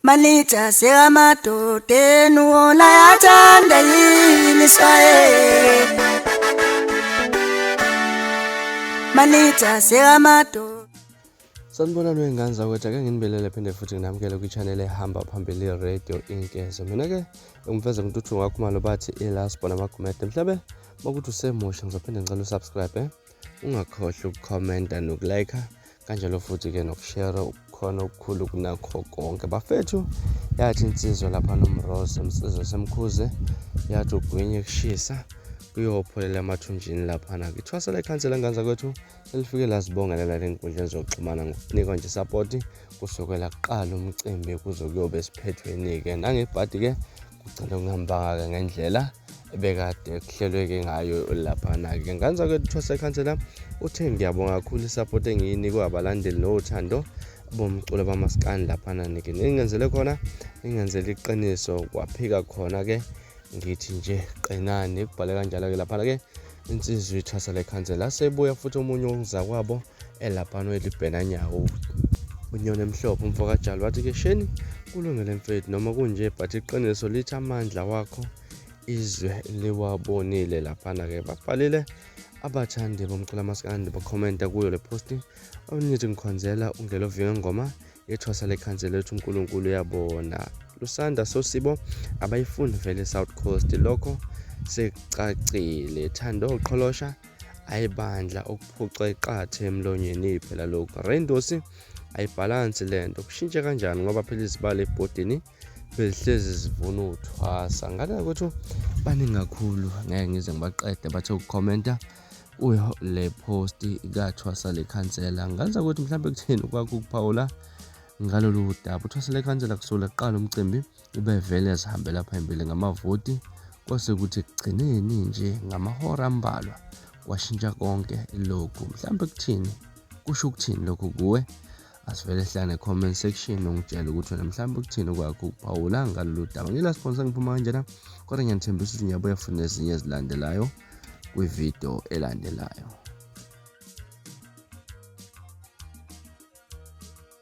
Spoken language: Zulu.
Manager sekamadoda enu wona yathanda yini swaye Manager sekamadoda Sanibona lwengane zakwethu ake nginibelele phinde futhi nginamukele kwi-channel ehamba phambili radio inkezo mina-ke ngimfeza mntuthu wakho malobathi ilasbona magumede mhlabe makuthi usemusha ngizophinde ngicela usubscribe eh? ungakhohlwa ukukhomenta nokulayikha kanjalo futhi-ke nokushera ukukhona okukhulu kunakho konke bafethu yathi insizwa lapha nomrose msizwa semkhuze yathi ugwinye kushisa kuyopholela emathunjini laphana ngithwasa lekhansela nganza kwethu elifike lasibongelela lenkundleni zokuxhumana ngokunikwa nje sapoti kusukela kuqala umcimbi kuze kuyobe esiphethweni-ke nangebhadi-ke kugcine kungambanga-ke ngendlela ebekade kuhlelweke ngayo laphana-ke nganzake thwase khansela uthe ngiyabonga kakhulu isapoti engiyinikwe abalandeli nothando bomculo bamasikani laphana nike ningenzele khona ningenzele iqiniso kwaphika khona-ke ngithi nje qinani kubhale kanjalo-ke laphana-ke insizwa ithwasa lekhansela sebuya futhi omunye wokuzakwabo elapano elibhena nyawo unyoni emhlophe umfo kajali wathi ke sheni kulungele mfethu noma kunje but iqiniso lithi amandla wakho izwe liwabonile laphana ke babhalile abathandi bomculo amaskandi bakhomenta kuyo le posti omnithi ngikhonzela ungelovinga ngoma yethwasa lekhansi lethu unkulunkulu uyabona lusanda sosibo abayifuni vele south coast lokho secacile thando qholosha ayi bandla ukuphuca iqathe emlonyeni phela lokhu reindosi ayibhalansi le nto kushintshe kanjani ngoba phela izibale ebhodini bezihlezi zivuna uthwasa ngale ukuthi baningi kakhulu ngeke ngize ngibaqede bathe ukukhomenta kuyo le post kathwasa le khansela ngenza ukuthi mhlawumbe kutheni kwakho ukuphawula ngalolu daba uthwasa le khansela kusukela kuqala umcimbi ubevele ezihambela phambili ngamavoti kwase kuthi ekugcineni nje ngamahora ambalwa kwashintsha konke lokhu mhlawumbe kuthini kusho ukuthini lokhu kuwe asivele sihlale ne-comment section ungitshele ukuthi wena mhlawumbe ukuthini kwakho ukuphawula ngalolu daba ngila sponsor ngiphuma kanjena kodwa ngiyanithembisa ukuthi ngiyabuya futhi nezinye ezilandelayo kwividiyo elandelayo